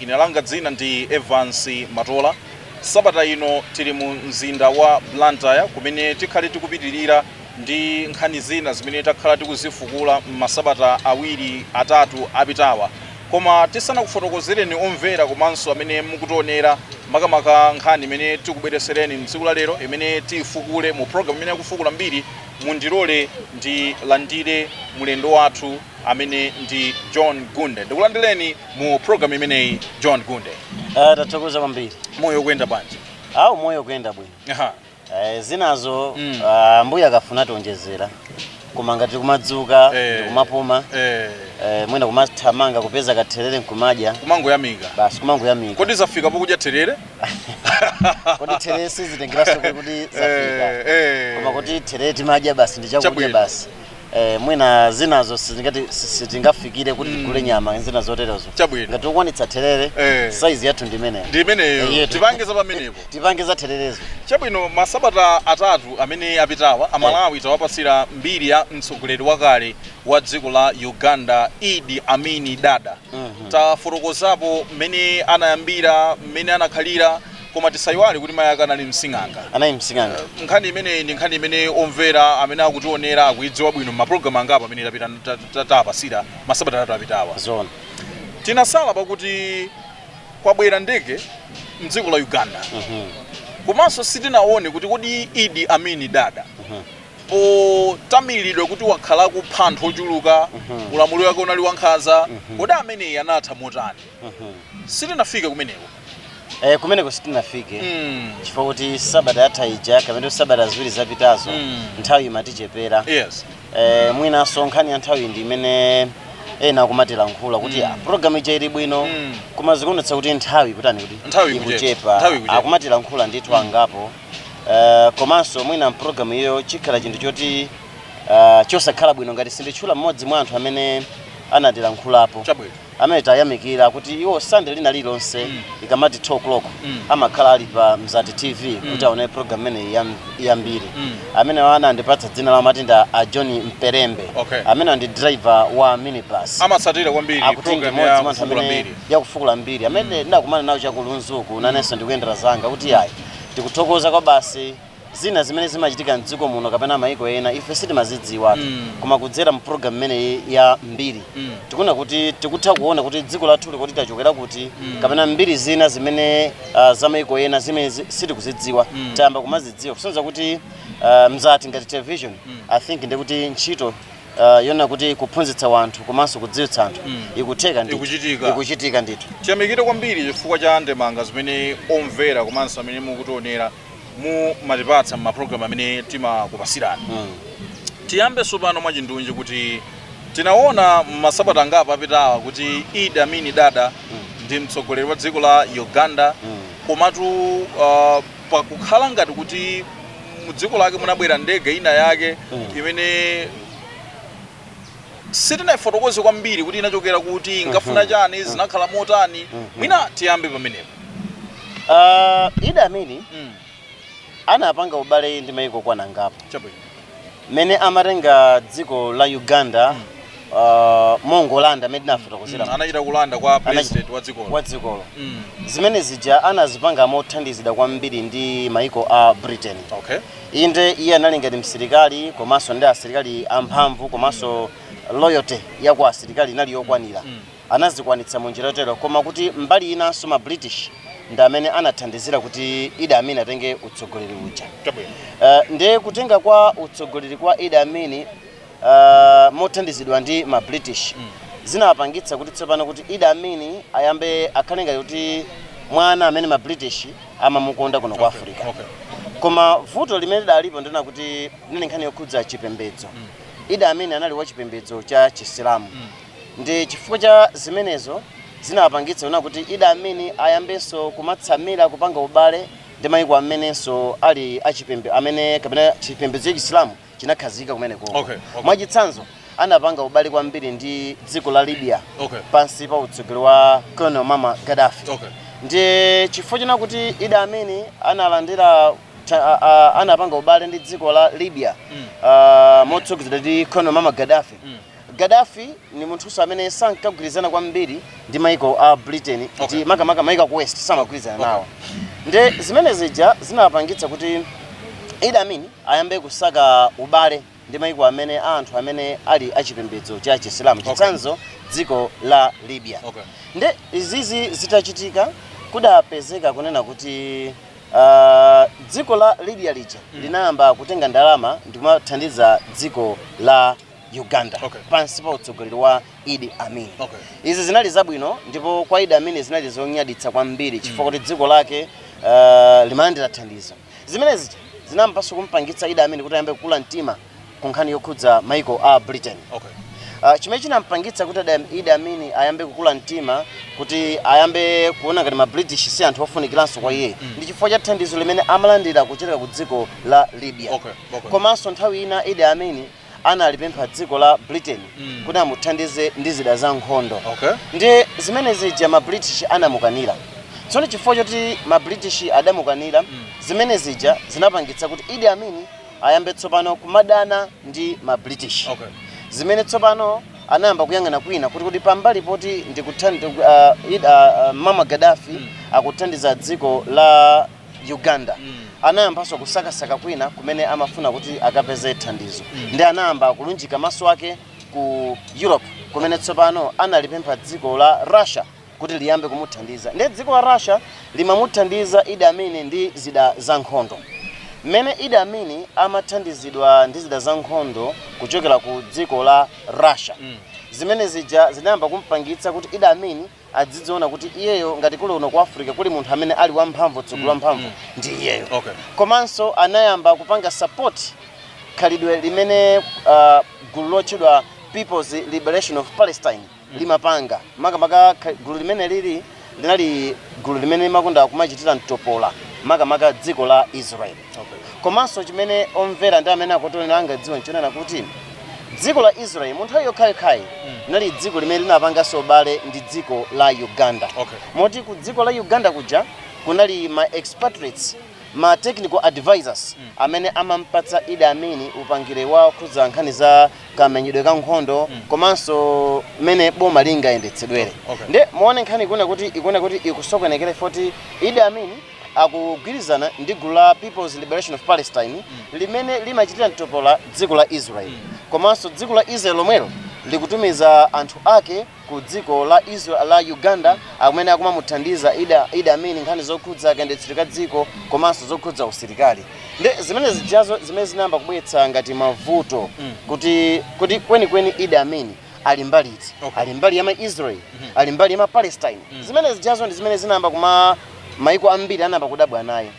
Ine langa dzina ndi Evance Matola. Sabata ino tili mu mzinda wa Blantyre kumene tikhale tikupitilira ndi nkhani zina zimene takhala tikuzifukula m'masabata awiri atatu apitawa. Koma tisanakufotokozereni omvera komanso amene mukutionera makamaka nkhani imene tikubweretsereni m'tsiku la lero imene tiifukule mu program imeneyi ya Kufukula Mbiri, mundilole ndilandire mulendo wathu. amene ndi john gunde ndikulandireni mu programu imeneyi john gunde Ah, tathokoza kwambiri moyo ukuyenda bwanji awu moyo ukuyenda bwino Aha. Eh, zinazo Mm. ah, Ambuye akafuna ationjezera koma ngati kumadzuka Eh. ndikumapuma Eh, eh, mwina kumathamanga kupeza katherere nkumadya kumangoyamika basi kumangoyamika kodi zafika pokudya therere kodi therere sizitengeranso kuti kuti zafika Eh, eh. koma kuti therere timadya basi ndi chakudya Chabwino. basi Eh, mwina zinazo sizingati si- sitingafikire kuti tigule nyama zina zoterezo Chabwino. ngati ukwanitsa therere Eh. saizi yathu ndi imeneyo ndi imeneyo Iye- tipange za pamenepo tipange za thererezo chabwino masabata atatu amene apitawa amalawi tawapasira mbiri ya mtsogoleri wakale wa dziko la uganda idi amin dada tafotokozapo mmene anayambira mmene anakhalira Koma tisaiwale kuti mayi ake anali msing'anga. Anali msing'anga. Nkhani imeneyi ndi nkhani imene omvera amene akutionera akuidziwa bwino m'mapulogalamu angapo amene tawapasira masabata atatu apitawa. Zoona. Tinasala pakuti kwabwera ndege mdziko la Uganda. Komanso sitinaone kuti kodi Idi Amini Dada potamilidwa kuti wakhala akupha anthu ochuluka, ulamuliro wake unali wankhanza, kodi ameneyi anatha motani? sitinafike kumeneko Eh, kumeneko sitinafike Mm. chifukwa kuti sabata yatha ija kapena kuti sabata ziwiri zapitazo Mm. nthawi imatichepera yes eh, mwinanso nkhani ya nthawi ndi imene ena akumatilankhula kuti Mm. ah, program ija ili bwino Mm. koma zikuonetsa kuti nthawi kutani kuti Nthawi ikuchepa. Nthawi ikuchepa ikuchepa. akumatilankhula ndithu angapo Eh, komanso mwina mpulogalamu iyo chikhala chinthu choti eh, chosakhala bwino ngati sinditchula mmodzi mwa anthu amene anatilankhulapo chabwino amene atayamikira kuti iwo sande lina lilonse mm. ikamati 2 o'clock mm. amakhala ali pa mzati tv mm. kuti aone program imeneyi ya mbiri mm. amenewa anandipatsa dzina lawo amati ndi a john mperembe okay. amenewa ndi driver wa minibus amatsatira kwambiri akuti ndi mmodzi mwa anthu amene program ya kufukula mbiri yakufukula mbiri amene ndakumana nawo chakulunzuku nanenso ndikuyendera zanga kuti ayi tikuthokoza kwa basi zina zimene zimachitika mdziko muno kapena maiko ena ife sitimazidziwa Mm. koma kudzera mu program imene ya mbiri Mm. tikuna kuti tikutha kuona kuti dziko lathu lili kuti tachokera kuti Mm. kapena mbiri zina zimene uh, za maiko ena zimene zi- sitikuzidziwa Mm. tayamba kumazidziwa kusonyeza kuti uh, mzati ngati television Mm. i think ndikuti ntchito uh, yona kuti kuphunzitsa wanthu komanso kudziwitsa anthu Mm. ikutheka ndithu. Ikuchitika. ikuchitika ndithu tiyamikire kwambiri chifukwa cha ndemanga zimene omvera komanso amene mukutionera mumatipatsa m'maprogram amene timakupasirani tiyambe tsopano mwachindunji kuti tinaona masabata angapo apitawa kuti Idi Amin Dada ndi mtsogoleri wa dziko la uganda komatu uh, pakukhala ngati kuti mu dziko lake munabwera ndege ina yake imene sitinaifotokoze kwambiri kuti inachokera kuti inkafuna chani zinakhala motani mwina tiyambe pamenepo Ah, Idi Amin Mm, anapanga ubale ndi maiko angapo chabwino mmene amatenga dziko la uganda ah, mongolanda mmene tinafotokozera Mm, anachita kulanda kwa president wa dzikolo wa dzikolo Mm, zimene zija anazipanga mothandizidwa kwambiri ndi maiko a britain okay Inde, iye anali ngati msilikali komanso ndi asilikali amphamvu komanso loyalty ya kwa asilikali inali yokwanira anazikwanitsa mu njira yotero koma kuti mbali inanso ma british ndi amene anathandizira kuti Idi Amin atenge utsogoleri uja Chabwino. Eh, ndiye kutenga kwa utsogoleri kwa Idi Amin mothandizidwa ndi ma British zinawapangitsa kuti tsopano kuti Idi Amin ayambe akhale ngati kuti mwana amene ma British amamukonda kuno kwa Africa. Okay. Koma vuto limene lidalipo ndi lonena kuti inali nkhani yokhudza chipembedzo. Idi Amin anali wa chipembedzo cha Chisilamu. Ndi chifukwa cha zimenezo zinawapangitsa kunena kuti Idi Amin ayambenso kumatsamira kupanga ubale ndi mayiko amenenso ali achipembe amene kapena chipembedzo cha Chisilamu chinakhazikika kumeneko okay, okay. mwachitsanzo anapanga ubale kwambiri ndi dziko la libya okay. pansi pa utsogoleri wa Colonel Muammar Gaddafi okay. ndiye chifukwa chonena kuti Idi Amin analandira anapanga ubale ndi dziko la libya mm. uh, motsogozedwa ndi Colonel Muammar Gaddafi mm. gaddafi ni munthuso amene sankagwirizana kwambiri ndi maiko a britain okay. ndi makamaka maiko aku west samagwirizana okay. nawo ndi zimene zija zinapangitsa kuti Idi Amin ayambe kusaka ubale ndi maiko amene a anthu amene ali a chipembedzo cha chisilamu Okay. chitsanzo dziko la libya Okay. nde izizi zitachitika kudapezeka kunena kuti ah, dziko la libya lija linayamba kutenga ndalama ndikumathandiza dziko la uganda Okay. pansi pa utsogoleri wa idi amin Okay. izi zinali zabwino ndipo kwa idi amin zinali zonyaditsa kwambiri chifukwa kuti dziko lake ah, limalandira thandizo Zimene zija zinayambanso kumpangitsa Idi Amin kuti ayambe kukula mtima ku nkhani yokhudza maiko a Britain. Okay. Uh, chimene chinampangitsa kuti Adam- Idi Amin ayambe kukula mtima kuti ayambe kuona ngati ma British si anthu ofunikiranso kwa iye ndi chifukwa cha thandizo limene amalandira kuchokera ku dziko la Libya. Okay, okay. Komanso nthawi ina Idi Amin analipempha dziko la britain Mm. kuti amuthandize ndi zida za nkhondo Okay. ndi zimene zija ma british anamukanira tsono chifukwa choti ma british adamukanira Mm. zimene zija zinapangitsa kuti idi amini ayambe tsopano kumadana ndi ma british Okay. zimene tsopano anayamba kuyang'ana kwina kuti kuti pambali poti ndikuthandi uh, id, uh, uh, muammar gaddafi Mm. akuthandiza dziko la Uganda anayambanso kusakasaka kwina kumene amafuna kuti akapeze thandizo ndi anayamba kulunjika maso ake ku Europe kumene tsopano analipempha dziko la Russia kuti liyambe kumuthandiza ndiye dziko la Russia limamuthandiza Idi Amin ndi zida za nkhondo mmene Idi Amin amathandizidwa ndi zida za nkhondo kuchokera ku dziko la Russia zimene zija zinayamba kumpangitsa kuti Idi Amin adzidziona kuti iyeyo ngati kuli uno ku africa kuli munthu amene ali wamphamvu mtsogoleri mm, wamphamvu mm, mm. ndi iyeyo okay. komanso anayamba kupanga support khalidwe limene uh, gulu lotchedwa people's liberation of palestine mm. limapanga makamaka gulu limene lili linali gulu limene limakonda kumachitira mtopola makamaka dziko la israeli Komanso chimene omvera ndi amene akutionera angadziwe n'chonena kuti dziko la Israel mu nthawi yokhayokhayi linali dziko limene linapanganso ubale ndi dziko la Uganda. Okay. Moti ku dziko la Uganda kuja kunali ma expatriates ma technical advisors amene amampatsa Idi Amin upangiri wokhudza nkhani za kamenyedwe ka nkhondo komanso mmene boma lingayendetsedwere. Okay. Nde muone nkhani ikuona kuti ikuona kuti ikusokonekera poti Idi Amin akugwirizana ndi gulu la People's Liberation of Palestine limene limachitira mtopola dziko la Israel komanso dziko la Israel lomwelo likutumiza anthu ake ku dziko la Israel la Uganda amene akumamuthandiza idi idi amin nkhani zokhudza kayendetsedwe ka dziko komanso zokhudza usilikali ndi zimene zijazo zimene zinayamba kubweretsa ngati mavuto kuti kuti kwenikweni idi amin ali mbali iti Okay. ali mbali ya maisrael ali mbali ya mapalestine zimene zijazo ndi zimene zinayamba kuma maiko ambiri anayamba kudabwa naye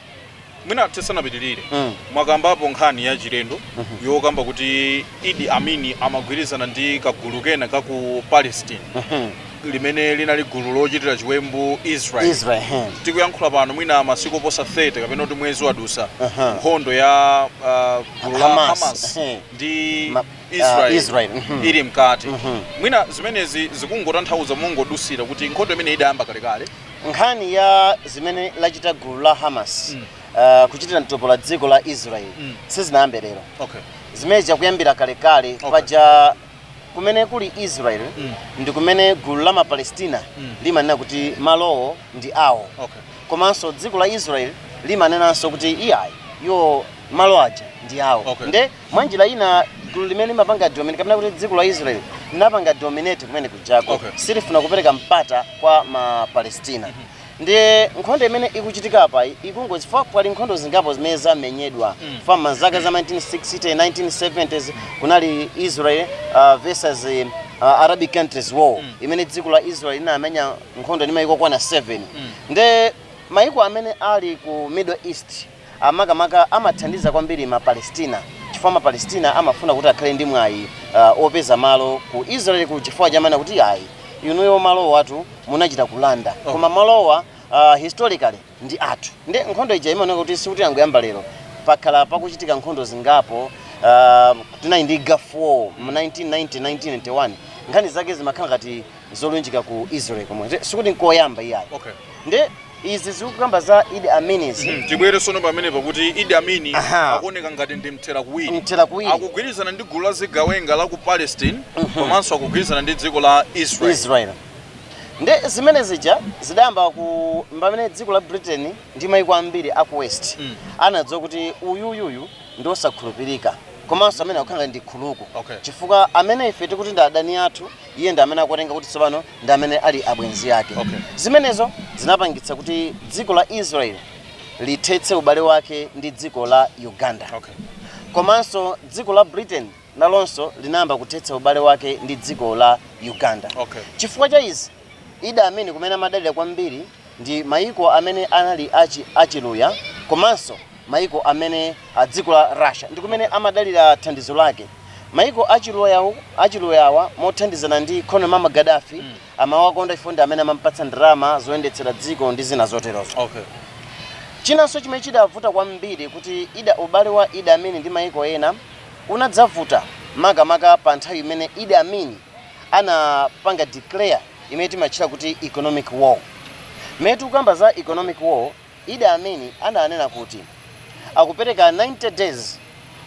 mwina tisanapitirire Mm. mwakambapo nkhani ya chilendo yokamba kuti idi amini amagwirizana ndi kagulu kena ka ku palestine Mhm. limene linali gulu lochitira chiwembu israel israel ehe. tikuyankhula pano mwina masiku oposa 30 kapena kuti mwezi wadutsa Aha. nkhondo ya ah, gulu la Hamas. hamas Ehe. ndi Ma- Israel, Israel, mhm. ili mkati mwina zimenezi zikungotanthauza mongodusira kuti nkhondo imene idayamba kalekale nkhani ya zimene lachita gulu la hamas uh, kuchitira mtopola dziko la israel Mm. sizinayambe lero okay zimenezi zikuyambira kalekale Okay. paja kumene kuli israel Mm. ndi kumene gulu la mapalestina Mm. limanena kuti malowo ndi awo okay komanso dziko la israel limanenanso kuti iyayi iwo malo aja ndi awo Okay. nde mwa njira ina gulu limene limapanga dominate kapena kuti dziko la israel linapanga dominate kumene kujako Okay. silifuna kupereka mpata kwa ma palestina ndiye nkhondo imene ikuchitika apa ikungo chifukwa pali nkhondo zingapo zimene zamenyedwa m'ma zaka za 1960 1970s kunali israel uh, versus uh, arabic countries war imene dziko la israel linamenya nkhondo ndi maiko okwana 7 nde maiko amene ali ku middle east a makamaka amathandiza kwambiri ma Palestina chifukwa ma Palestina amafuna kuti akhale ndi mwayi uh, opeza malo ku Israel ko chifukwa amanena kuti ayi inuyo malowatu munachita kulanda oh. koma malowa uh, historically ndi athu nde nkhondo ija imaoneka kuti sikuti yangoyamba lero pakhala pakuchitika nkhondo zingapo uh, tinali ndi gulf war mu 1990 1991 nkhani zake zimakhala ngati zolunjika ku Israel komweko Nde sikuti nkoyamba iyayi Okay. nde izi zikukamba za Idi Amin zi Mm, tibwere sono pamene pakuti Idi Amin Aha. akuoneka ngati ndi mthera kuwiri mthera kuwiri akugwirizana ndi gulu la zigawenga la ku Palestine komanso akugwirizana ndi dziko la Israel Israel nde zimene zija zidayamba ku pamene dziko la Britain ndi maiko ambiri aku West Mm. anadziwa kuti uyuyuyu ndi osakhulupirika komanso amene akukhala ngati ndi nkhuluku Okay. chifukwa amene ife tikuti ndi adani athu Iye ndi amene akuwatenga kuti tsopano ndi amene ali abwenzi ake. Okay. Zimenezo zinapangitsa kuti dziko la Israel lithetse ubale wake ndi dziko la Uganda. Okay. Komanso dziko la Britain nalonso linayamba kuthetsa ubale wake ndi dziko la Uganda. Okay. Chifukwa cha izi, Idi Amin kumene amadalira kwambiri ndi mayiko amene anali achi achiluya komanso Maiko amene a dziko la Russia ndi kumene amadalira thandizo lake. Maiko a chiluyawa mothandizana ndi Colonel Muammar Gadafi amawakonda chifukwa ndi amene amampatsa ndalama zoyendetsera dziko ndi zina zoterozo. Chinanso chimene chidavuta kwambiri kuti Ida ubale wa Idi Amin ndi maiko ena unadzavuta makamaka pa nthawi imene Idi Amin anapanga declare imene timatchula kuti economic war. Mmene tikukamba za economic war. Idi Amin ananena kuti akupereka 90 days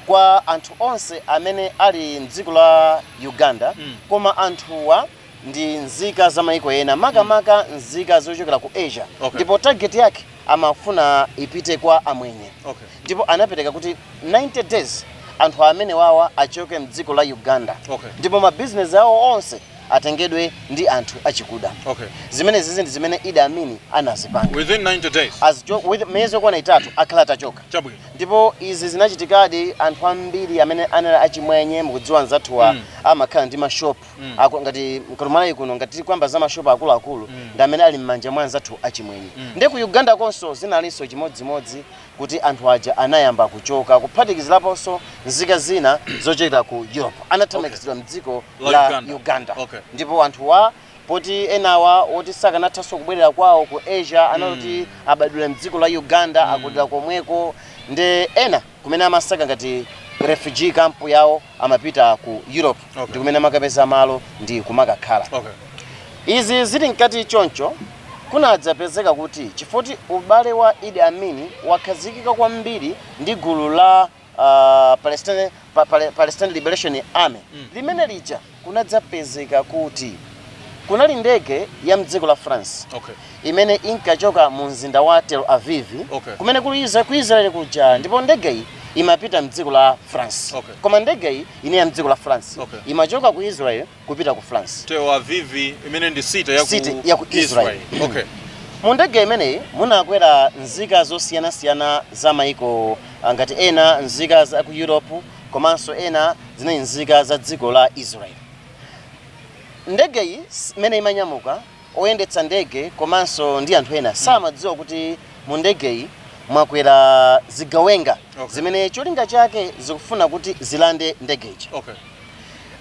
kwa anthu onse amene ali mdziko la Uganda koma anthuwa ndi nzika za maiko ena makamaka nzika zochokera ku Asia Okay. ndipo target yake amafuna ipite kwa amwenye Okay. ndipo anapereka kuti 90 days anthu amene wawa achoke mdziko la Uganda Okay. ndipo mabizinesi awo onse atengedwe ndi anthu achikuda Okay. zimenezizi ndi zimene Idi Amin anazipanga Within 90 days. As jo- with- miyezi yokwana itatu akhale atachoka Chabwino. ndipo izi zinachitikadi anthu ambiri amene anali achimwenye mukudziwa anzathuwa Mm. amakhala ndi mashopu Mm. Aku- ngati ku Malawi kuno ngati tikukamba za mashopu akuluakulu ndi amene ali m'manja mwa anzathu achimwenye Mm. ndi ku uganda nakonso zinalinso chimodzimodzi kuti anthu aja anayamba kuchoka kuphatikiziraponso nzika zina zochokera ku Europe anathamangitsidwa okay. mdziko la, la Uganda, Uganda. Okay. ndipo anthuwa poti enawa oti sakanathanso kubwerera kwawo ku Asia anaoti mm. abadwira mdziko la Uganda mm. akulira komweko nde ena kumene amasaka ngati refugee camp yawo amapita ku europe okay. ndikumene amakapeza malo ndi kumakakhala okay. izi zili mkati choncho kunadzapezeka kuti chifoti ubale wa Idi Amin wakhazikika kwambiri ndi gulu la uh, palestine, pa, pale, palestine liberation army mm. limene lija kunadzapezeka kuti kunali ndege ya mdziko la france okay. imene inkachoka mu mzinda wa Tel Aviv Okay. kumene kuli Isra- ku Israel kuja ndipo ndegeyi imapita mdziko la France Okay. koma ndegeyi inali ya mdziko la France Okay. imachoka ku Israel kupita ku France Tel Aviv imene ndi city ya ku City ya ku Israel. Okay. mu ndege imeneyi munakwera nzika zosiyanasiyana za maiko ah, ngati ena nzika za ku europe komanso ena zinali nzika za dziko la israel ndegeyi s- imene imanyamuka Oyendetsa ndege komanso ndi anthu ena samadziwa kuti mu ndegeyi mwakwera zigawenga Okay. zimene cholinga chake zikufuna kuti zilande ndege ija. Okay.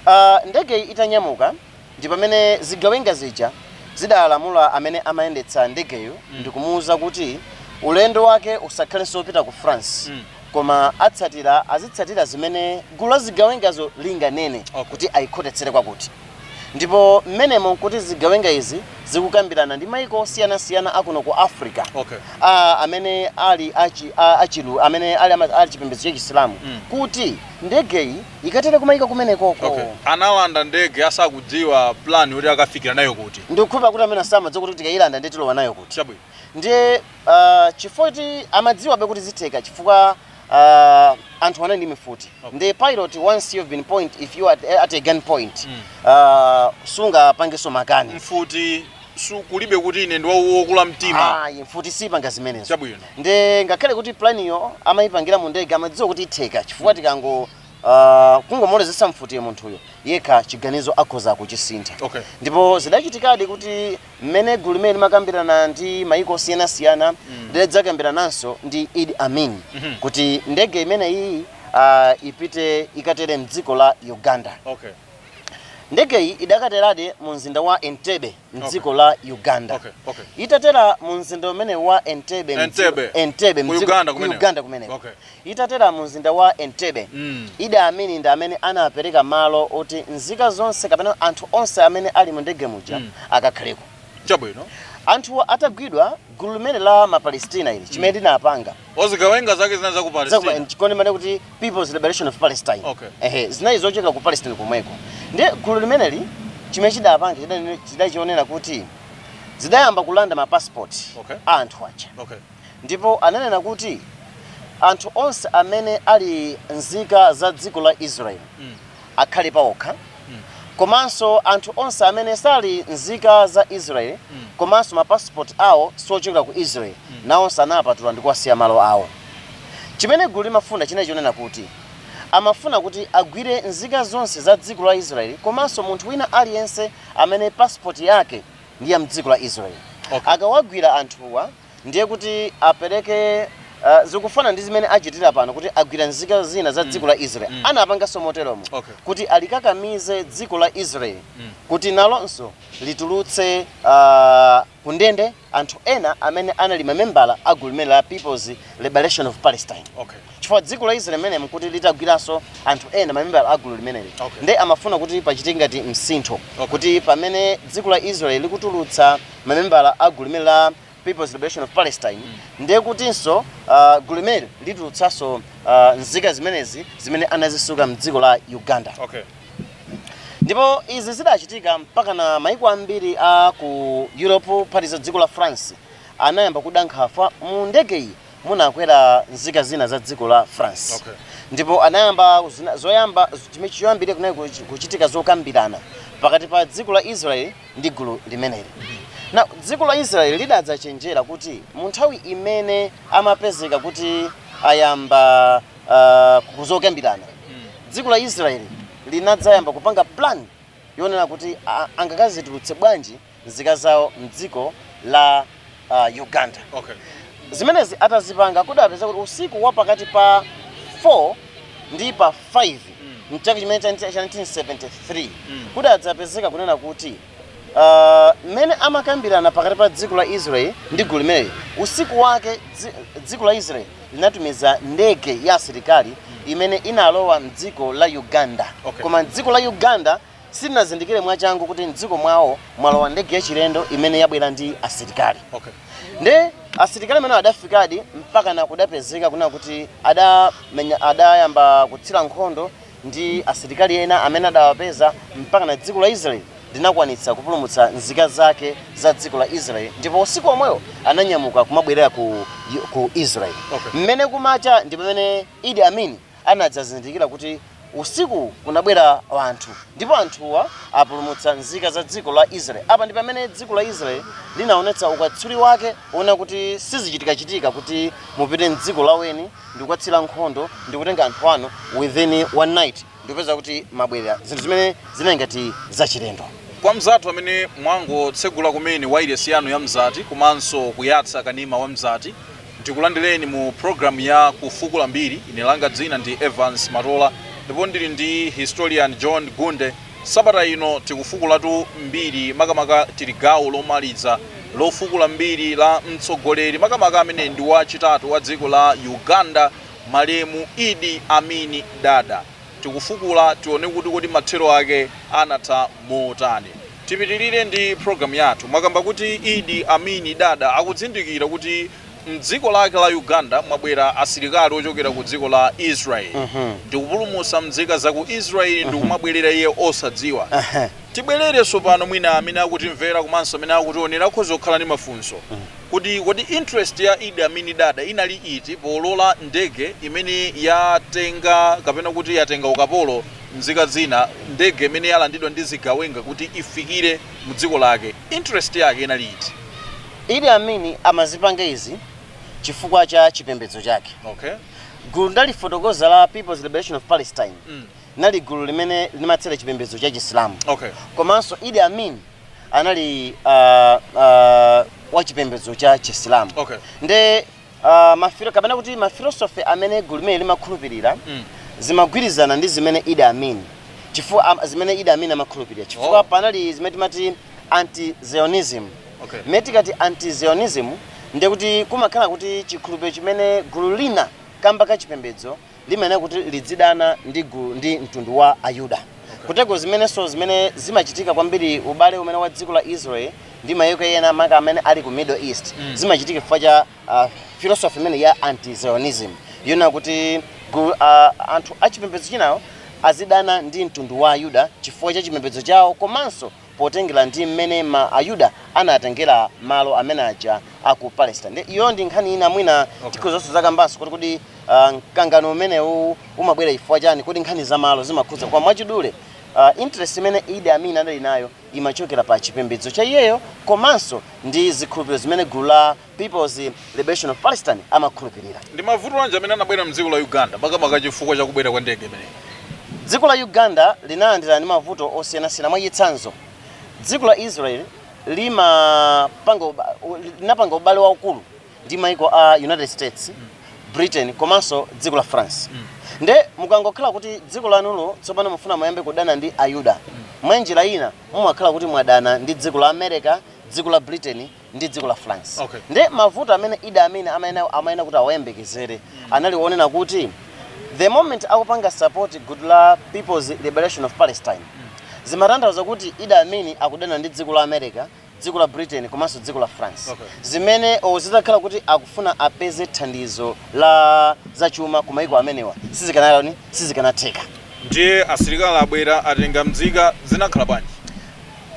Ah, ndegeyi itanyamuka ndi pamene zigawenga zija zidalamula amene amayendetsa ndegeyo ndi kumuwuza kuti ulendo wake usakhalenso wopita ku France Mm. koma atsatira azitsatira zimene gulu la zigawengazo linganene Okay. kuti ayikhotetsere kwakuti. ndipo mmenemo nkuti zigawenga izi zikukambirana ndi maiko osiyanasiyana akuno ku africa okay. a, amene ali achi, a, achilu amene ali, ama- ali chipembedzo cha chisilamu Mm. kuti ndegeyi ikatere kumaiko kumenekoko okay. analanda ndege asakudziwa plan yoti akafikira nayo kuti ndikukhulupira kuti amene samadziwa kuti tikayilanda nde tilowa nayo kuti chabwino ndiye uh, chifoti amadziwabe kuti zitheka chifukwa uh, anthu anali ndi mfuti okay. nde the pilot once you've been point if you are at, at a gun point mm. uh, sungapangenso makani mfuti kulibe kuti ine ndi wokula mtima ayi mfuti siyipanga zimenezo chabwino nde ngakhale kuti planiyo amayipangira mu ndege amadziwa kuti itheka chifukwa tikango uh, kungomulozesa mfuti munthuyo yekha chiganizo akhoza kuchisintha okay. ndipo zidachitikadi kuti mmene gulu limeneli limakambirana ndi mayiko osiyanasiyana lidadzakambirananso ndi Idi Amin kuti ndege imeneyi ah, ipite ikatere mdziko la Uganda. Okay. Ndegeyi idakateradi mu mzinda wa Entebbe mdziko la Uganda. Okay, okay. Itatera mu mzinda umenewu wa Entebbe mdziko- Entebbe. Entebbe Ku mdziko- Uganda ku kumeneko. Uganda kumeneko. Okay. Itatera mu mzinda wa Entebbe, Idi Amin ndi amene anapereka malo oti nzika zonse kapena anthu onse amene ali mu ndege muja akakhaleko. Chabwino. Anthuwa atagwidwa, gulu limene la ma Palesitina ili, chimene linapanga, Zigawenga zake zinali za ku za ku Palestina. chikondi mane kuti People's Liberation of Palestine. Okay. Ehe, zinali zochokera ku Palestine komweko. Ndiye gulu limeneli chimene chidapanga chidali- chidali chonena kuti zidayamba kulanda ma passport Okay. a anthu aja. Okay. Ndipo ananena kuti, Anthu onse amene ali nzika za dziko la Israeli akhale paokha, komanso anthu onse amene sali nzika za Israeli komanso mapasipoti awo sochokera ku Israeli, nawonso anawapatula ndi kuwasiya malo awo. Chimene gululi limafuna chinali chonena kuti, Amafuna kuti agwire nzika zonse za dziko la Israeli komanso munthu wina aliyense amene pasipoti yake ndi ya m'dziko la Israeli. Okay. Akawagwira anthuwa, ndiye kuti apereke uh, zikufanana ndi zimene achitira pano kuti agwira nzika zina za dziko la israel Mm. anapanganso moteromo Okay. kuti alikakamize dziko la israel Mm. kuti nalonso litulutse uh, kundende anthu ena amene anali mamembala a gulu limene la peoples liberation of palestine okay chifukwa dziko la israel limenelo nkuti litagwiranso anthu ena mamembala a gulu limeneli Okay. nde amafuna kuti pachitike ngati msintho Okay. kuti pamene dziko la israel likutulutsa mamembala a gulu limene la People's Liberation of Palestine ndiye kutinso ah, gulu limeneli litulutsenso ah, nzika zimenezi zimene anazisunga mdziko la Uganda okay ndipo izi zidachitika mpaka na maiko ambiri a ku europe phatikiza dziko la france anayamba kuda nkhawa mu ndege iyi munakwera nzika zina za dziko la france Okay. ndipo anayamba zina- zoyamba chimene choyambirira kunali kuchi- kuchitika zokambirana pakati pa dziko la israel ndi gulu limeneli. Now, dziko la Israel lidadzachenjera kuti mu nthawi imene amapezeka kuti ayamba ah, zokambirana dziko la Israel linadzayamba kupanga plan yonena kuti ah, angakazitulutse bwanji nzika zawo mdziko la uh, uganda okay. zimenezi atazipanga kudapezeka kuti usiku wa pakati pa 4 ndi pa 5 mchaka chimene cha cha 1973 kudadzapezeka kunena kuti ah, mmene amakambirana pakati pa dziko la israel ndi gulu limeneli usiku wake dzi- dziko la israel linatumiza ndege ya asilikali imene inalowa mdziko la uganda Okay. koma mdziko la uganda silinazindikire mwachangu kuti mdziko mwawo mwalowa ndege yachilendo imene yabwera ndi asilikali okay. nde asilikali amene adafikadi mpaka na kudapezeka kuna kuti adamenya adayamba kutsira nkhondo ndi asilikali ena amene adawapeza mpaka na dziko la israeli linakwanitsa kupulumutsa nzika zake za dziko la israeli ndipo usiku omweyo ananyamuka kumabwerera ku, ku israeli Okay. mmene kumacha ndi pamene idi amin anadzazindikira kuti usiku kunabwera anthu ndipo anthuwa apulumutsa nzika za dziko la Israel. Apa ndi pamene dziko la Israel linaonetsa ukatswiri wake oona kuti sizichitikachitika kuti mupite m'dziko la weni ndi kukatsira nkhondo ndi kutenga anthu anu within one night ndikupeza kuti mabwerera zinthu zimene zinali ngati zachilendo. Kwa mzathu amene mwangotsegula kumene wailesi yanu ya Mzati komanso kuyatsa kanema wa Mzati, Ndikulandireni mu program ya Kufukula Mbiri. Ine langa dzina ndi Evans Matola ndipo ndili ndi historian John Gunde. Sabata ino tikufukulatu mbiri makamaka tili gawo lomaliza lofukula mbiri la mtsogoleri makamaka amene ndi wachitatu wa dziko la Uganda malemu Idi Amini Dada. Tikufukula tione kuti kodi mathero ake anatha motani. Tipitirire ndi program yathu mwakamba kuti Idi Amini Dada akudzindikira kuti mdziko lake la Uganda mwabwera asilikali ochokera ku dziko la Israel uh -huh. ndikupulumusa mdzika za ku Israel uh -huh. ndikumabwerera iye osadziwa uh -huh. tibwerere sopano mwina amene akutimvera komanso amene akutionera akhoza kukhala ndi mafunso uh -huh kuti kodi interest ya Idi Amini Dada inali iti polola ndege imene yatenga kapena kuti yatenga ukapolo nzika zina ndege imene yalandidwa ndi zigawenga kuti ifikire mu dziko lake interest yake inali iti idi amini amazipanga izi chifukwa cha chipembedzo chake okay gulu ndalifotokoza la people's liberation of palestine mm. nali gulu limene limatsatira chipembedzo cha chisilamu okay komanso idi amin anali uh, uh, wa chipembedzo cha chisilamu okay nde Ah, mafilo kapena kuti mafilosofi amene gulu limeneli limakhulupirira Mm. zimagwirizana ndi zimene Idi Amin chifukwa am- zimene Idi Amin amakhulupirira chifukwa Oh. panali zimene timati anti-Zionism Okay. mmene tikati anti-Zionism ndiye kuti kumakhala kuti chikhulupiriro chimene gulu lina kamba ka chipembedzo limayenera kuti lidzidana ndi gulu ndi mtundu wa ayuda kuteroko zimenenso zimene zimachitika kwambiri ubale umene wa dziko la israel ndi mayiko ena maka amene ali ku middle east Mm. zimachitika chifukwa cha uh, philosophy imene ya anti-zionism yonena kuti gulu, uh, anthu achipembedzo chinawo azidana ndi mtundu wa ayuda chifukwa cha chipembedzo chawo komanso potengera ndi mmene ma Ayuda anatengera malo amene aja a ku Palestine. Ndi- Iyo ndi nkhani ina mwina Okay. tikhozonso zakambanso kuti kodi ah, mkangano umenewu umabwera chifukwa chani kodi nkhani za malo zimakhudza koma mwachidule ah, interest imene Idi Amin anali nayo imachokera pa chipembedzo cha iyeyo komanso ndi zikhulupiriro zimene gulu la Peoples Liberation of Palestine amakhulupirira. Ndi mavuto anji amene anabwera mdziko la Uganda makamaka chifukwa cha kubwera kwa ndege imeneyi? Dziko la Uganda linalandira ndi mavuto osiyanasiyana mwa chitsanzo dziko la Israel linapanga ubale waukulu ndi maiko a United States, Britain komanso dziko la France. Mm. Nde mukangokhala kuti dziko lanulo tsopano mufuna muyambe kudana ndi Ayuda. Mm. Mwa njira ina mumakhala kuti mwadana ndi dziko la America, dziko la Britain ndi dziko la France okay. Nde mavuto amene Idi Amin amayenera kuti awayembekezere mm. anali wonena kuti the moment akupanga support gulu la People's Liberation of Palestine mm. zimatanthauza kuti Idi Amin akudana ndi dziko la America dziko la Britain komanso dziko la France okay. zimene zitakhala kuti akufuna apeze thandizo la zachuma ku maiko amenewa sizikanayani sizikanatheka ndiye asilikali abwera atenga mzika zinakhala bwanji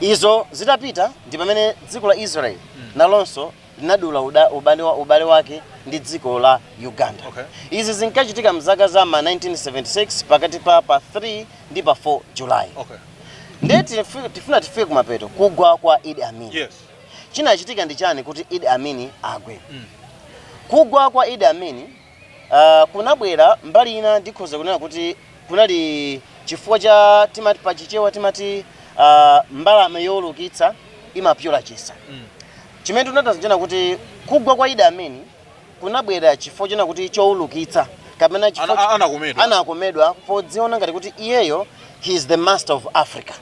izo zitapita ndi pamene dziko la israel nalonso linadula uda- ubale wa- ubale wake ndi dziko la uganda Okay. izi zinkachitika mzaka za ma 1976 pakati pa pa 3 ndi pa 4 july okay ndiye tifu- tifuna tifike kumapeto kugwa kwa idi amini yes chinachitika ndi chani kuti idi amini agwe kugwa kwa idi amini ah, kunabwera mbali ina ndikhoza kunena kuti kunali chifukwa cha timati pa chichewa timati ah, mbalame youlukitsa imapyola chisa chimene chimatanthauza chonena kuti kugwa kwa idi amini kunabwera chifukwa chonena kuti choulukitsa kapena chifukwa Ana- anakomedwa. anakomedwa podziona ngati kuti iyeyo he is the master of africa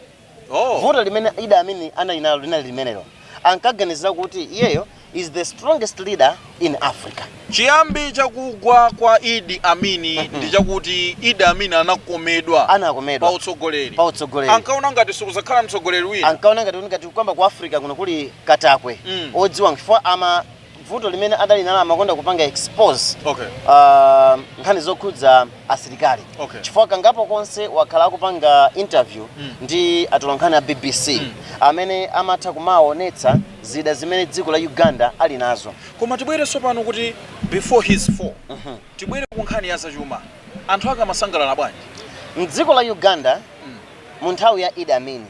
Oh. vuto limene Idi Amin anali nalo linali limenelo ankaganizira kuti iyeyo is the strongest leader in africa chiyambi chakugwa kwa idi amini ndi chakuti idi amini anakomedwa anakomedwa pa utsogoleri pa utsogoleri ankaona ngati sikuzakhala mtsogoleri wina ankaona ngati kuti ngati kukamba ku africa kuno kuli katakwe Mm. odziwa chifukwa ama vuto limene adali nalo amakonda kupanga expose Okay. ah, nkhani zokhudza asilikali Okay. chifukwa kangapo konse wakhala akupanga interview ndi atolankhani a bbc amene amatha kumaonetsa zida zimene dziko la uganda ali nazo koma tibwere tsopano kuti before his fall tibwere ku nkhani ya zachuma anthu ake amasangalala bwanji mdziko la uganda mu nthawi ya idi amin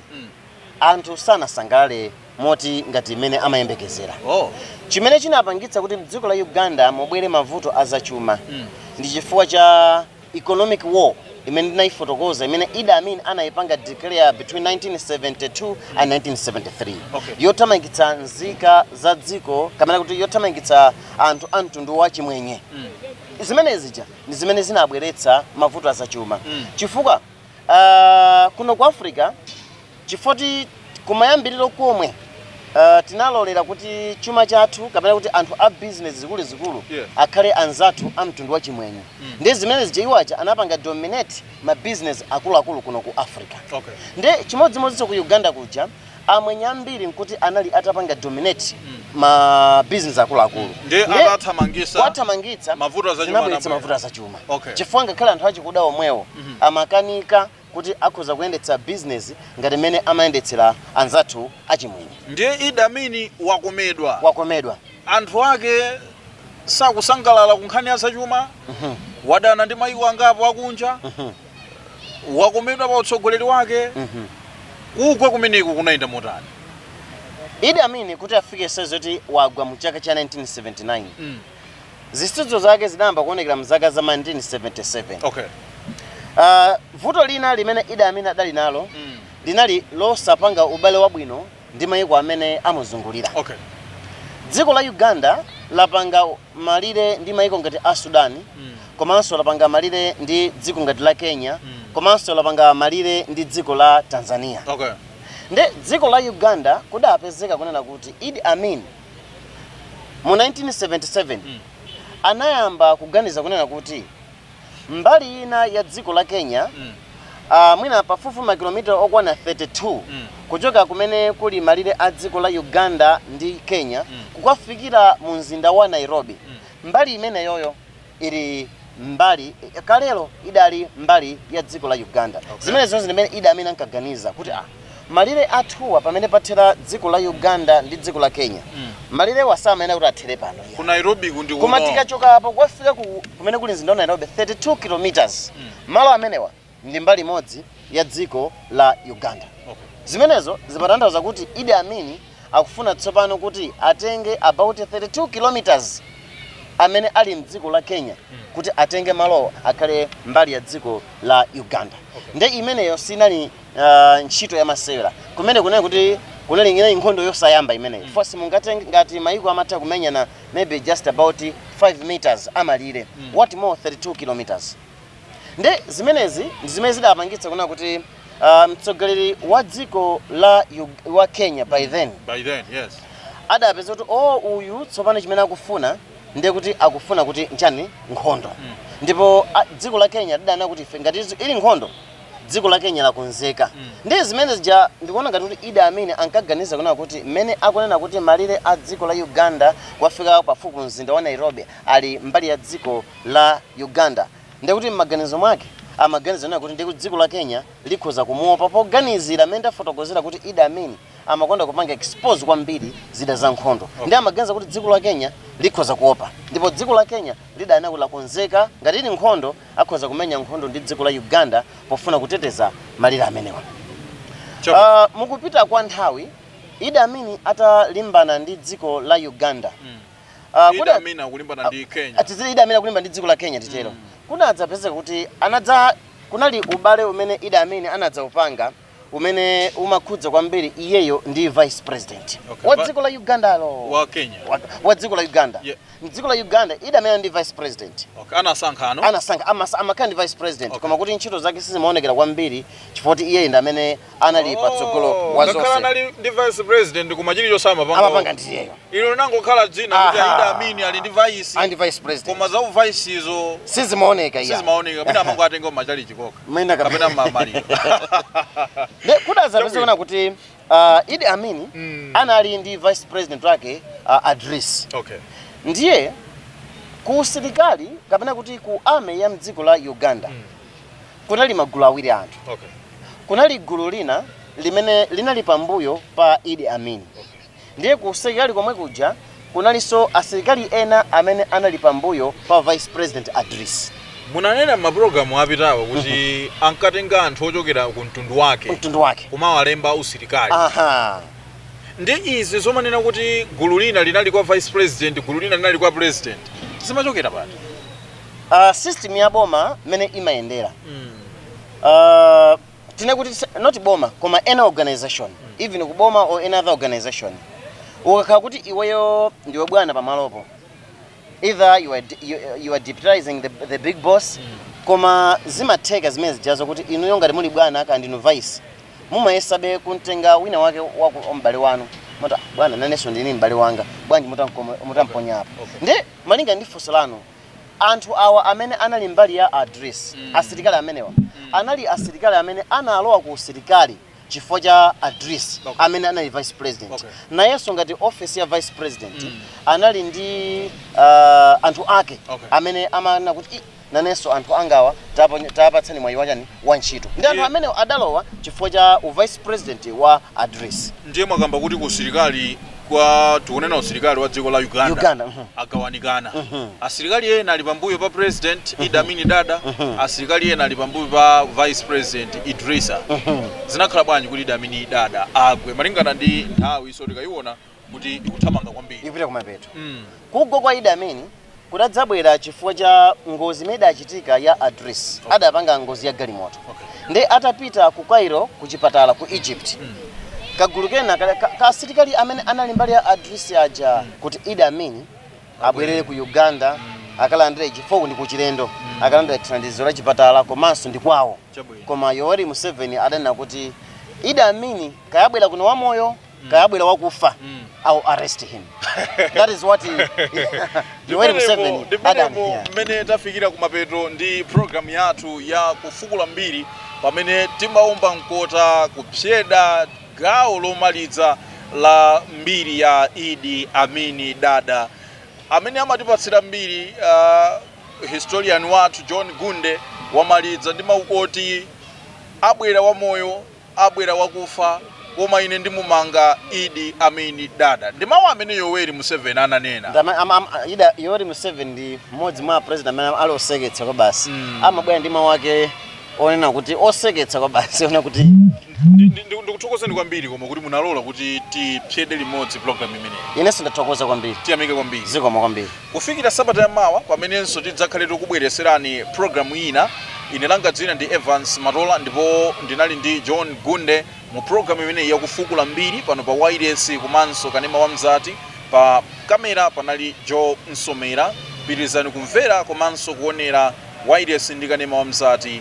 anthu sanasangalale moti ngati mmene amayembekezera. Oh. Chimene chinapangitsa kuti mdziko la Uganda mubwere mavuto a zachuma mm. ndi chifukwa cha economic war imene ndinayifotokoza imene Idi Amin anayipanga declare between 1972 and 1973 okay. yothamangitsa nzika za dziko kapena kuti yothamangitsa anthu a mtundu wa chimwenye mm. zimene zija ndi zimene zinabweretsa mavuto azachuma mm. chifukwa Ah, kuno ku africa chifoti kumayambiriro komwe ah, tinalolera kuti chuma chathu kapena kuti anthu a business zikuluzikulu Yeah. akhale anzathu a mtundu wa chimwenye ndi zimene zija iwo aja anapanga dominate ma business akuluakulu kuno ku africa Okay. ndi chimodzimodzinso ku uganda kuja amwenye ambiri nkuti anali atapanga dominate ma business akuluakulu Ndiye Ndiye atathamangitsa kuwathamangitsa mavuto azachuma zinabweretsa anabwera. mavuto azachuma Okay. chifukwa ngakhale anthu achikuda omwewo amakanika kuti akhoza kuyendetsa business ngati mmene amayendetsera anzathu achimwenye ndiye Idi Amin wakomedwa wakomedwa anthu ake sakusangalala ku nkhani ya zachuma wadana ndi mayiko angapo akunja wakomedwa pa utsogoleri wake kugwa kumeneku kunayenda motani idi amin kuti afike sayizi yoti wagwa mu chaka cha 1979 Mm. zisudzo zake zinayamba kuonekera mzaka za 1977 okay Ah, vuto lina limene idi amin adali nalo Mm. linali losapanga ubale wabwino ndi mayiko amene amuzungulira. Okay. Dziko la Uganda lapanga malire ndi mayiko ngati a Sudan mm. komanso lapanga malire ndi dziko ngati la Kenya mm. komanso lapanga malire ndi dziko la Tanzania. Okay. Nde dziko la Uganda kudapezeka kunena kuti Idi Amin mu 1977 mm. anayamba kuganiza kunena kuti Mbali ina ya dziko la Kenya, ah, mwina pafupifupi makilomita okwana 32 kuchoka kumene kuli malire a dziko la Uganda ndi Kenya kukafikira mu mzinda wa Nairobi. Mbali imeneyoyo ili mbali kalelo idali mbali ya dziko la Uganda. Zimenezozo ndi zimene Idi Amin ankaganiza kuti ah, Malire athuwa pamene pathera dziko la Uganda ndi dziko la Kenya, malirewa samayenera kuti athere pano iyayi. Ku Nairobi ku ndi Koma kuno. tikachoka apa kukafika ku kumene kuli mzinda wa Nairobi 32 kilometers. Malo amenewa ndi mbali imodzi ya dziko la Uganda. Okay. Zimenezo zimatanthauza kuti Idi Amin akufuna tsopano kuti atenge about 32 kilometers amene ali mdziko la Kenya kuti atenge malowo akhale mbali ya dziko la Uganda. Okay. Nde imeneyo sinali ah, ntchito yamasewera kumene kunena kuti kunali nkhondo yosayamba imeneyi 'cause mungati ngati mayiko amatha kumenyana maybe just about 5 meters amalire what more 32 kilometers nde zimenezi ndi zimene zidapangitsa kunena kuti ah, mtsogoleri wa dziko la Ug- wa kenya by then By then, yes. adapeza kuti o uyu tsopano chimene akufuna ndiye kuti akufuna kuti nchani nkhondo ndipo a- dziko la kenya lidanena kuti ife ngati izi- ili nkhondo dziko la kenya lakonzeka Mm. ndiye zimene zija ndikuona ngati kuti Idi Amin ankaganiza kunena kuti mmene akunena kuti malire a dziko la uganda kukafika pafupi mzinda wa nairobi ali mbali ya dziko la uganda nde kuti m'maganizo mwake amaganiza kunena kuti ndikuti dziko la kenya likhoza kumuopa poganizira mmene ndafotokozera kuti Idi Amin amakonda kupanga expose kwambiri zida za nkhondo nde amaganiza kuti dziko la kenya likhoza kuopa ndipo dziko la kenya lidanena kuti lakonzeka ngati ili nkhondo akhoza kumenya nkhondo ndi dziko la Uganda pofuna kuteteza malire amenewa. Choko. Ah, mukupita kwa nthawi Idi Amin atalimbana ndi dziko la Uganda. Ah, Idi kuda- Amin akulimbana ndi Kenya. atizire Idi Amin akulimbana ndi dziko la Kenya titero. Kunadzapezeka kuti anadza kunali ubale umene Idi Amin anadzaupanga umene umakhudza kwambiri iyeyo ndi vice president Okay, wa but- dziko la ugandalo wa kenya Wa- wa dziko la uganda Yeah. mdziko la uganda Idi Amin ndi vice president okay. anasankha ano anasankha amasa- amakhala ndi vice president Okay. koma kuti ntchito zake sizimaonekera kwambiri chifukwa kuti iyeyi ndi amene anali patsogolo wa ngakhala zonse anali ndi vice president koma chilichonse amapanga amapanga ndi iyeyo Ilo linangokhala dzina kuti Aha. a Idi Amin ali ndi vice. ali ndi vice president Koma za uvice izo sizimaoneka iyayi sizimaoneka. Mwina amangowatenga m'matchalitchi mokha. Mwina kapena- Kapena mmamaliro. Nde, kudadzapezeka kuti uh, Idi Amin Mm. anali ndi vice president wake uh, Adrisi Okay. ndiye ku usilikali kapena kuti ku army ya mdziko la uganda Mm. kunali magulu awiri a anthu Okay. kunali gulu lina limene linali pambuyo pa Idi Amin Ndiye ku usilikali komwe kuja kunalinso asilikali ena amene anali pambuyo pa Vice President Adrisi. Munanena m'mapulogalamu apitawo kuti ankatenga anthu ochokera ku mtundu wake Mtundu wake. kumawalemba usilikali. Aha. Nde izi zomanena kuti gulu lina linali kwa vice president, gulu lina linali kwa president. Zimachokera pati? Uh, system ya boma mmene imayendera. Mm. Uh, tine kuti sa- not boma koma any organization even ku boma or any other organization ukakhala kuti iweyo ndiwe bwana pamalopo either you are, de- you, you are deputizing the, the big boss koma zimatheka zimene zijazo kuti inuyo ngati muli bwana kaya ndinu vice mumayesabe kumtenga wina wake waku wa m'bale wanu moti a bwana nanenso ndili ndi m'bale wanga bwanji mutamkomo- mutamponyapo nde malinga ndi funso lanu Anthu awa amene anali mbali ya Adrisi, asilikali amenewa, anali asilikali amene analowa ku usilikali chifukwa cha Adrisi amene anali vice president. Nayenso ngati office ya vice president anali ndi ah, anthu ake amene amanena kuti "Ih, nanenso anthu angawa tapo- tapatsani mwayi wachani wa ntchito. Ndi anthu amene adalowa chifukwa cha u vice president wa Adrisi. ndiye mwakamba kuti kusilikali kwa tikunena usilikali wa dziko la uganda uh mhm. -huh. agawanikana uh mhm. -huh. asilikali ena ali pambuyo pa president uh mhm. -huh. idi amin dada uh -huh. asilikali ena ali pambuyo pa vice president idrisa uh -huh. zinakhala bwanji kuti idi amin dada agwe malingana ndi nthawiyinso tikayiona kuti ikuthamanga kwambiri ikupita kumapeto mm. kugwa kwa idi amin kudadzabwera chifukwa cha ngozi imene idachitika ya adrisi adapanga ngozi ya galimoto nde atapita ku cairo ku chipatala ku egypt kagulu kena ka- ka- ka asilikali amene anali mbali ya adrisi aja kuti idi amin abwerere ku uganda akalandire chifukwa ndi kuchilendo akalandire thandizo la chipatala komanso ndi kwawo koma yoweri museveni adanena kuti idi amin kaya abwera kuno wamoyo mm. kaya abwera wakufa mm. I'll arrest him that is what Yoweri Museveni adanena mmene tafikira kumapeto ndi program yathu ya kufukula mbiri pamene timaomba mkota kupsyeda gawo lomaliza la mbiri ya Idi Amini Dada amene amatipatsira mbiri uh, historian wathu John Gunde wamaliza ndi mawu oti abwera wamoyo abwera wakufa koma ine ndimumanga idi amin dada ndi mawu amene yoweri museveni ananena Ndama- am- am- ida yoweri museveni ndi mmodzi mwa president amene ali oseketsa kwabasi Mm. amabwera ndi mawu ake onena kuti oseketsa kwabasi onena kuti Ndi- ndi- ndi- ndikuthokozeni kwambiri koma kuti munalola kuti tipsyede limodzi program imeneyi inenso ndathokoza kwambiri tiyamike kwambiri zikomo kwambiri Kufikira sabata ya mawa pamenenso tidzakhale tikubweretserani program ina, ine langa dzina ndi Evance Matola ndipo ndinali ndi John Gunde mu program imeneyi ya kufukula mbiri pano pa wailesi komanso kanema wa Mzati, pa camera panali Joe Nsomera, pitirizani kumvera komanso kuonera wailesi ndi kanema wa Mzati.